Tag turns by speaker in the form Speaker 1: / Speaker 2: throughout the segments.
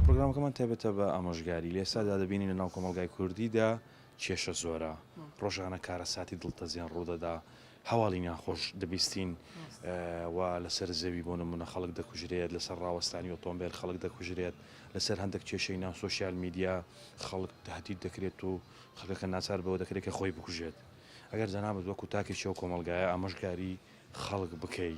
Speaker 1: پرۆگرامەکەمان تایبەتە بە ئامۆژگاری، لەئێستادا دەبینین لەناو کۆمەڵگای کوردیدا کێشە زۆرە، رۆژانە کارەساتی دڵتەزێن روودەدا، هەواڵی ناخۆش دەبیستین و لەسەر زەوی بۆ نموونە خەڵک دەکوژرێت، لەسەر راوەستانی ئۆتۆمبێل خەڵک دەکوژرێت، لەسەر هەندێک کێشەی ناو سۆشیال میدیا خەڵک تەهدید دەکرێت و خەڵکەکە ناچار بەوە دەکرێت کە خۆی بکوژێت. ئەگەر جەنابت وەکو تاکێکی ئەو کۆمەڵگایە ئامۆژگاری خەڵک بکەی،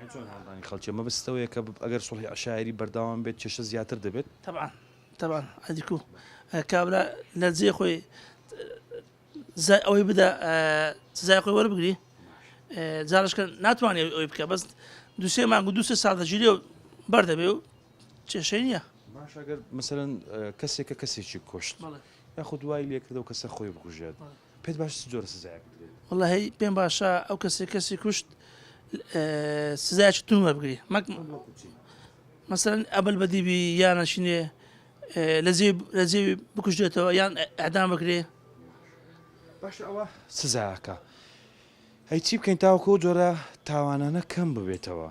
Speaker 2: یان چۆن
Speaker 1: هاندانی خەڵکیە؟ مەبست ئەوەیە کە ئەگەر سوڵحی عەشایەری بەردەوام بێت کێشە زیاتر دەبێت؟ تەبعەن تەبعەن
Speaker 2: عەدی کو کابرا لە جێ خۆی زای ئەوەی بدا سزای خۆی وەربگری جارشکە ناتوانێت ئەوی بکە بەست دوسێ مانگ و دوسێ ساڵ دەژیری و بەردەبێ و کێشەی نییە باشگەر
Speaker 1: مثلەن کەسێکە کەسێکی کوشت یاخود دوای لێکردەوە کەسە خۆی بکوژێت پێت باشە چ جۆرە سزایەک بدرێت؟ وەڵا هەی پێم باشە
Speaker 2: ئەو کەسێک کەسی کوشت سزایکی تون وەربگری مەک مەسەرەن ئەبل بەدیبی یانەشینێ لەزێ لەزێ بکوژێتەوە یان ئەدام بکرێ
Speaker 1: باش ئەوە سزاکە هەی چی بکەین تاوەکۆ جۆرە تاوانانە کەم ببێتەوە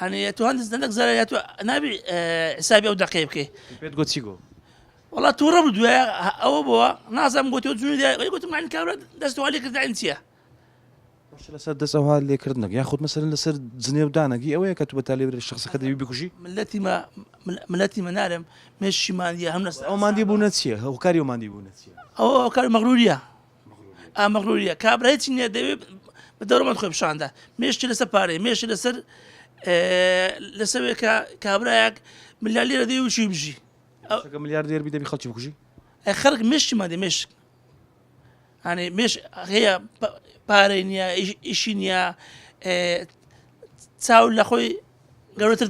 Speaker 2: ئەنێ تۆ هەندز دەنەک زەرە یا تۆ نابی حسابی ئەو دەقەی بکەی پێت گۆ چی گۆ
Speaker 1: وڵات تووڕە
Speaker 2: بوو دوێ ئەوە بووە نازم گوت تۆ جوونی دای گوتم من کارە دەستوەلی کردن چییە
Speaker 1: لەسەر دەست ئەوها لێکردنەک یا خودمە سەر لەسەر جنێ و دانەگی ئەوەیە کە تو بە تالێ شخصەکە دەوی بکوژی ملەتی
Speaker 2: ملەتی منارم مێشیمانە هەم لەس ئەوماندی بوونە چیە
Speaker 1: هەوکاری ئەوماندی بوونە ئەو کار مەغروریە
Speaker 2: ئا مەغروریە کابرا هیچی نیە دەوێت بە دەوڵەمەند خۆی پیشاندا مێشتی لەسەر پارەی مێشتی لەسەر لەسەوێکە کابراایەک ملالی لە دەی وچی بژی ملیار دێر
Speaker 1: بی دەبی خەڵکی بکوژی خەرک مشتی
Speaker 2: مادە مشک هەێ مش هەیە پارەی نییە ئیشی نییە چاو لە خۆی گەورەتر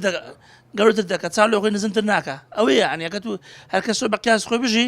Speaker 2: گەورەتر دەکە چاو لە خۆی نزمتر ناکە ئەوەیە ئەنیەکە تو هەرکەسۆ بە قیاس خۆی بژی